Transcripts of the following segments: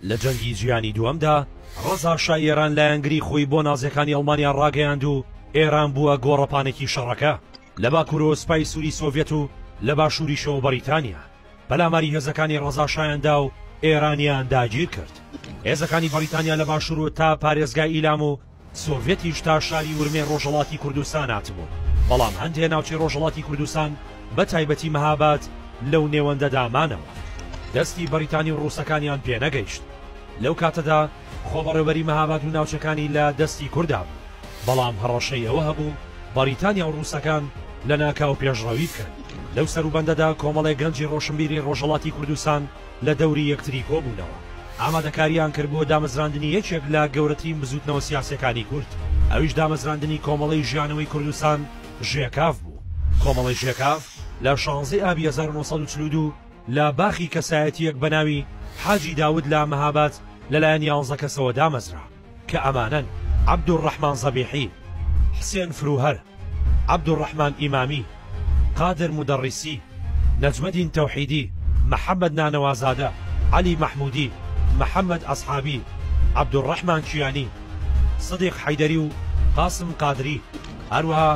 لە جەنگی جیهانی دووەمدا ڕەزا شای ئێران لایەنگری خۆی بۆ نازیەکانی ئەڵمانیا ڕاگەیاند و ئێران بووە گۆڕەپانێکی شەڕەکە لە باکوورەوە سپای سووری سۆڤێت و لە باشووریشەوە بەریتانیا پەلاماری هێزەکانی ڕەزا شایاندا و ئێرانیان داگیر کرد هێزەکانی بەریتانیا لە باشوور و تا پارێزگای ئیلام و سۆڤێتیش تا شاری ورمێ ڕۆژەڵاتی کوردستان هاتبوو، بەڵام هەندێ ناوچەی ڕۆژەڵاتی کوردستان بە تایبەتی مەهاباد لەو نێوەندەدا مانەوە. دەستی بەریتانی و ڕووسەکانیان پێ نەگەیشت. لەو کاتەدا خۆبەڕێوەبەری مەهاباد و ناوچەکانی لە دەستی کوردا بوو، بەڵام هەڕەشەی ئەوە هەبوو بەریتانیا و ڕووسەکان لە ناکاو پێشڕەوی بکەن. لەو سەروبەندەدا کۆمەڵێ گەنجی ڕۆشنبیری ڕۆژەڵاتی کوردستان، لە دەوری یەکتری کۆبوونەوە، ئامادەکارییان کرد بۆ دامەزراندنی یەکێک لە گەورەترین بزووتنەوە سیاسییەکانی کورد، ئەویش دامەزراندنی کۆمەڵەی ژیانەوەی کوردستان، ژێکاف، بوو. کۆمەڵەی ژێکاف لە شانزەی ئابی هەزار و نۆ سەد و چل و دوو لە باخی کەسایەتییەک بە ناوی حاجی داود لە مەهاباد لەلایەن یانزە کەسەوە دامەزرا. کە ئەمانەن، عەبدولڕەحمان زەبیحی، حسێن فرووهەر، عەبدولڕەحمان ئیمامی، قادر مودەڕیسی، نەجمەدین تەوحیدی، محەمەد نانەوازادە، عەلی مەحموودی، محەمەد ئەسحابی، عەبدولڕەحمان کیانی، سدیق حەیدەری و قاسم قادری، هەروەها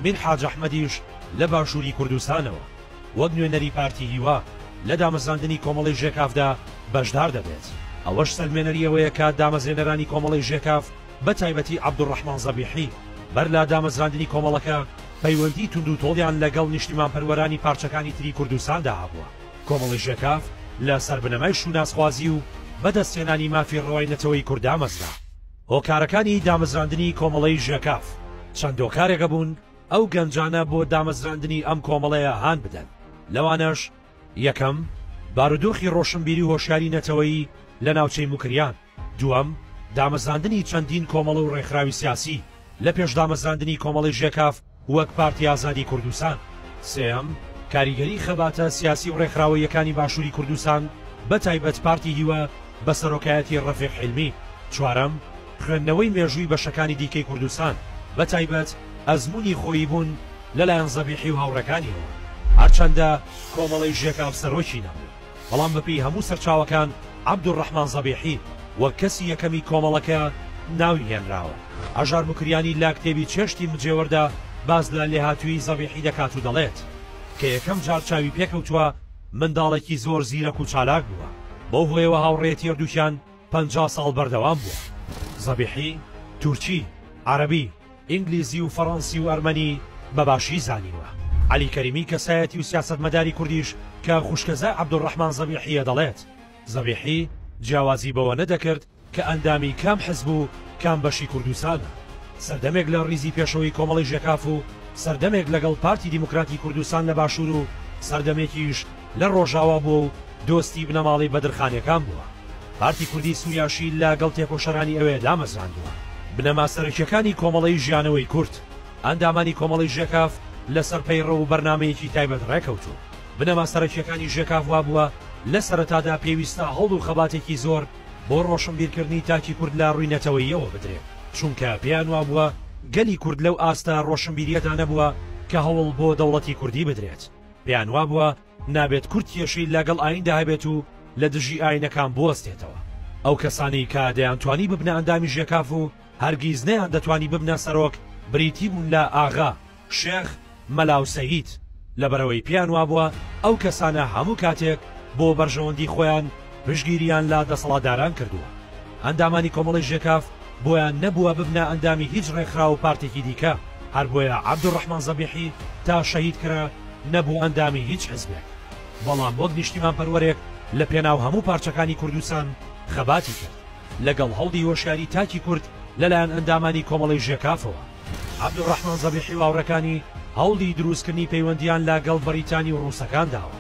میر حاج ئەحمەدیش لە باشووری کوردستانەوە. وەک نوێنەری پارتی هیوا لە دامەزراندنی کۆمەڵەی ژێکافدا بەشدار دەبێت، ئەوەش سەلمێنەری ئەوەیە کە دامەزرێنەرانی کۆمەڵەی ژێکاف بە تایبەتی عەبدولڕەحمان زەبیحی بەر لە دامەزراندنی کۆمەڵەکە پەیوەندی توندوتۆڵیان لەگەڵ نیشتیمانپەروەرانی پارچەکانی تری کوردستاندا هەبووە. کۆمەڵەی ژێکاف لە سەر بنەمای شوناسخوازی و بەدەستهێنانی مافی ڕەوای نەتەوەی کورد دامەزرا. هۆکارەکانی دامەزراندنی کۆمەڵەی ژێکاف چەند هۆکارێکە بوون، ئەو گەنجانە بۆ دامەزراندنی ئەم کۆمەڵەیە هان بدەن، لەوانەش، یەکەم، بارودۆخی ڕۆشنبیری و هۆشیاری نەتەوەیی لە ناوچەی موکریان، دووەم، دامەزراندنی چەندین کۆمەڵە و ڕێکخراوی سیاسی لە پێش دامەزراندنی کۆمەڵەی ژێکاف وەک پارتی ئازادی کوردستان، سێیەم، کاریگەری خەباتە سیاسی و ڕێکخراوەییەکانی باشووری کوردستان بە تایبەت پارتی هیوا، بە سەرۆکایەتی ڕەفیق حیلمی. چوارەم، خوێندنەوەی مێژووی بەشەکانی دیکەی کوردستان، بە تایبەت ئەزموونی خۆیی بوون لە لایەن زەبیحی و هاوڕێکانیەوە. هەرچەندە کۆمەڵەی ژێکاف سەرۆکی نەبوو، بەڵام بە پێی هەموو سەرچاوەکان عەبدولڕەحمان زەبیحی وەک کەسی یەکەمی کۆمەڵەکە ناوی هێنراوە. هەژار موکریانی لە کتێبی چێشتی مجێوەردا باس لە لێهاتوویی زەبیحی دەکات و دەڵێت، کە یەکەم جار چاوی پێکەوتووە، منداڵێکی زۆر زیرەک و چالاک بووە، بەو هۆیەوە هاوڕێیەتی هەردووکیان پەنجا ساڵ بەردەوام بووە. زەبیحی تورکی، عەرەبی، ئینگلیزی و فەڕەنسی و ئەرمەنی بە باشی زانیوە. عەلی کەریمی کەسایەتی و سیاسەتمەداری کوردیش کە خوشکەزای عەبدولڕەحمان زەبیحییە دەڵێت، زەبیحی جیاوازی بەوە نەدەکرد، کە ئەندامی کام حزب و کام بەشی کوردستانە، سەردەمێک لە ڕیزی پێشەوەی کۆمەڵی ژێکاف و سەردەمێک لەگەڵ پارتی دیموکراتی کوردستان لە باشوور و سەردەمێکیش لە ڕۆژاوا بووە و دۆستی بنەماڵەی بەدرخانەکان بووە. پارتی کوردی سووریاشی لە گەڵ تێکۆشەرانی ئەوێ دامەزراندووە. بنەما سەرەکییەکانی کۆمەڵەی ژیانەوەی کورد، ئەندامانی کۆمەڵی ژێکاف لە سەر پەیڕەو و بەرنامەیەکی تایبەت ڕێ کەوتوون. بنەما سەرەکییەکانی ژێکاف وا بووە لە سەرەتادا پێویستە هەوڵ و خەباتێکی زۆر، بۆ ڕۆشنبیرکردنی تاکی کورد لە ڕووی نەتەوەییەوە بدرێ، چونکە پێیان وابووە گەلی کورد لەو ئاستە ڕۆشنبیرییەدا نەبووە کە هەوڵ بۆ دەوڵەتی کوردی بدرێت، پێیان وابووە نابێت کورد کێشەی لە گەڵ ئاییندا هەبێت و لە دژی ئایینەکان بوەستێتەوە. ئەو کەسانەی کە دەیانتوانی ببنە ئەندامی ژێکاف و هەرگیز نەیاندەتوانی ببنە سەرۆک بریتی بوون لە، ئاغا، شێخ مەلاو سەید، لەبەرئەوەی پێیان وابووە ئەو کەسانە هەموو کاتێک بۆ بەرژەوەندی خۆیان پشتگیریان لە دەسەڵاتداران کردووە، ئەندامانی کۆمەڵەی ژێکاف بۆیان نەبووە ببنە ئەندامی هیچ ڕێکخراو و پارتێکی دیکە، هەر بۆیە عەبدولڕەحمان زەبیحی تا شەهید کرا نەبوو ئەندامی هیچ حزبێک، بەڵام وەک نیشتیمانپەروەرێک لە پێناو هەموو پارچەکانی کوردستان خەباتی کرد، لەگەڵ هەوڵی هۆشیاری تاکی کورد لەلایەن ئەندامانی کۆمەڵەی ژێکافەوە. عەبدولڕەحمان زەبیحی و هاوڕێکانی هەوڵی دروستکردنی پەیوەندییان لە گەڵ بەڕیتانی و ڕووسەکان داوە.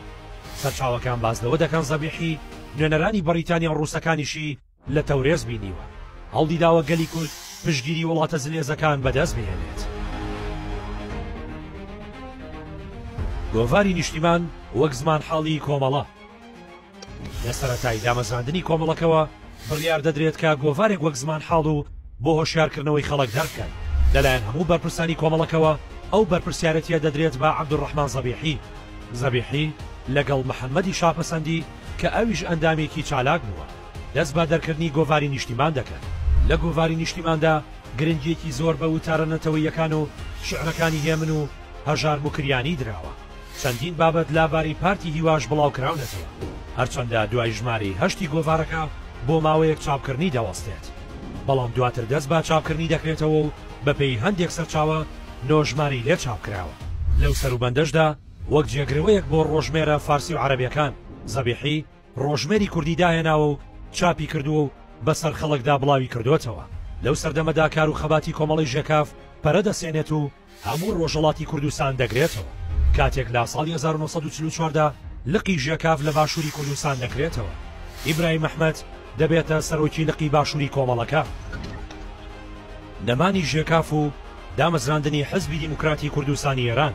سەرچاوەکان باس لەوە دەکەن زەبیحی نوێنەرانی بەڕیتانیا و ڕووسەکانیشی لە تەورێز بینیوە. هەوڵی داوە گەلی کورد پشتگیری وڵاتە زلێزەکان بە دەست بهێنێت. گۆڤاری نیشتیمان وەک زمانحاڵی کۆمەڵە. لە سەرەتای دامەزراندنی کۆمەڵەکەوە بڕیار دەدرێت کە گۆڤارێک وەک زمانحاڵ و بۆ هۆشیارکردنەوەی خەڵک دەربکەن، لەلایەن هەموو بەرپرسانی کۆمەڵەکەوە ئەو بەرپرسیارەتییە دەدرێت بە عەبدولڕەحمان زەبیحی زەبیحی لەگەڵ محەممەدی شاپەسەندی کە ئەویش ئەندامێکی چالاک بووە دەست بە دەرکردنی گۆڤاری نیشتیمان دەکەن. لە گۆڤاری نیشتیماندا گرنگییەکی زۆر بە وتارە نەتەوەییەکان و شیعرەکانی هێمن و هەژار موکریانی دراوە. چەندین بابەت لە باری پارتی هیواش بڵاوکراونەتەوە، هەرچەندە دوای ژمارەی هەشتی گۆڤارەکە بۆ ماوەیەک چاپکردنی دەوەستێت، بەڵام دواتر دەست بە چاپکردنی دەکرێتەوە و بەپێی هەندێک سەرچاوە نۆ ژمارەی لێ چاپکراوە. لەو سەروبەندەشدا وەک جێگرەوەیەک بۆ ڕۆژمێرە فارسی و عەرەبیەکان، زەبیحی ڕۆژمێری کوردی داهێناوە و چاپی کردووە و بەسەر خەڵکدا بڵاوی کردۆتەوە. لەو سەردەمەدا کار و خەباتی کۆمەڵەی ژێکاف پەرە دەسێنێت و، هەموو ڕۆژهەڵاتی کوردستان دەگرێتەوە. کاتێک لە ساڵی هەزار و نۆ سەد و چل و چوار دا لقی ژێکاف لە باشووری کوردستان دەکرێتەوە، ئیبراهیم ئەحمەد دەبێتە سەرۆکی لقی باشووری کۆمەڵەکە. نەمانی ژێکاف و دامەزراندنی حزبی دیموکراتی کوردستانی ئێران.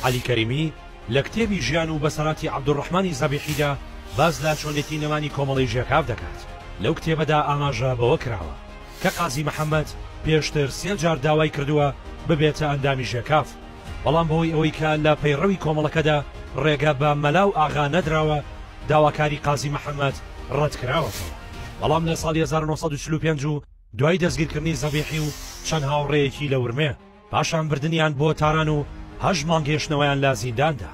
عەلی کەریمی لە کتێبی ژیان و بەسەراتی عەبدولڕەحمانی زەبیحیدا باس لە چۆنێتی نەمانی کۆمەڵەی ژێکاف دەکات. لەو کتێبەدا ئاماژە بەوە کراوە. کە قازی محەمەد پێشتر سێ جار داوای کردووە ببێتە ئەندامی ژێکاف، بەڵام بەهۆی ئەوەی کە لە پەیڕەوی کۆمەڵەکەدا ڕێگە بە مەلا و ئاغا نەدراوە، داواکاری قازی محەمەد ڕەت کراوەتەوە. بەڵام لە ساڵی هەزار و نۆ سەد و چل و پێنج و دوای دەستگیرکردنی زەبیحی و چەند هاوڕێیەکی لە ورمێ، پاشان بردنیان بۆ تاران و هەشت مانگ هێشتنەوەیان لە زیندان دا.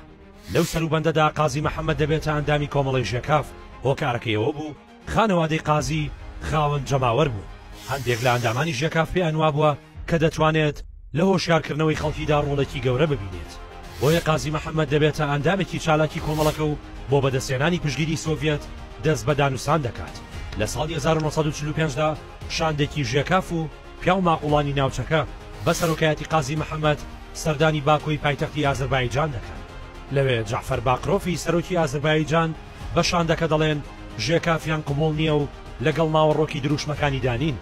لەو سەروبەندەدا قازی محەمەد دەبێتە ئەندامی کۆمەڵەی ژێکاف، هۆکارەکەی ئەوە بوو خانەوادەی قازی خاوەن جەماوەر بوون، هەندێک لە ئەندامانی ژێکاف پێیان وابووە کە دەتوانێت لە هۆشیارکردنەوەی خەڵکیدا ڕۆڵێکی گەورە ببینێت، بۆیە قازی محەمەد دەبێتە ئەندامێکی چالاکی کۆمەڵەکە و بۆ بەدەستهێنانی پشتگیری سۆڤیەت دەست بە دانوستان دەکات. لە ساڵی هەزار و نۆ سەد و چل و پێنج دا شاندێکی ژێکاف و، پیاو ماقوڵانی ناوچەکە بە سەرۆکایەتی قازی محەمەد سەردانی باکۆی پایتەختی ئازەربایجان دەکەن، لەوێ جەعفەر باقرۆفی سەرۆکی ئازەربایجان بە شاندەکە دەڵێن ژێکافیان قبوڵ نییە و لەگەڵ ناوەڕۆکی درووشمەکانیدا نین،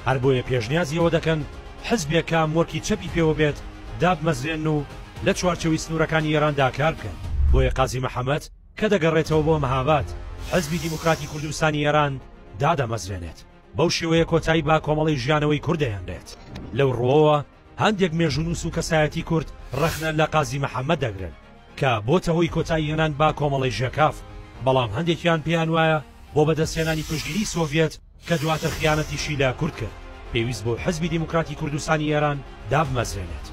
هەر بۆیە پێشنیازی ئەوە دەکەن حزبێک کە ئەمۆرکی چەپی پێوە بێت دابمەزرێنن و لە چوارچێوی سنوورەکانی ئێراندا کار بکەن، بۆیە قازی محەمەد کە دەگەڕێتەوە بۆ مەهاباد حزبی دیموکراتی کوردستانی ئێران دادەمەزرێنێت. بەو شێوەیە کۆتایی بە کۆمەڵەی ژیانەوەی کورد دەهێنرێت. لەو ڕووەوە هەندێک مێژوونووس و کەسایەتی کورد ڕەخنە لە قازی محەممەد دەگرن کە بۆتە هۆی کۆتایی هێنان بە کۆمەڵەی ژێکاف، بەڵام هەندێکیان پێیان وایە بۆ بەدەستهێنانی پشتگیریی سۆڤیەت کە دواتر خیانەتیشی لە کورد کرد، پێویست بوو حیزبی دیموکراتی کوردستانی ئێران دابمەزرێنێت.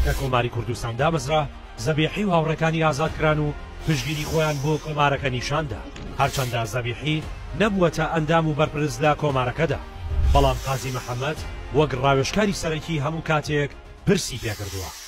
کە کۆماری کوردستان دامەزرا، زەبیحی و هاوڕێکانی ئازاد کران و پشتگیری خۆیان بۆ کۆمارەکە نیشان دا، هەرچەندە زەبیحی نەبووەتە ئەندام و بەرپرس لە کۆمارەکەدا، بەڵام قازی محەمەد وەک ڕاوێژکاری سەرەکی هەموو کاتێک پرسی پێکردووە.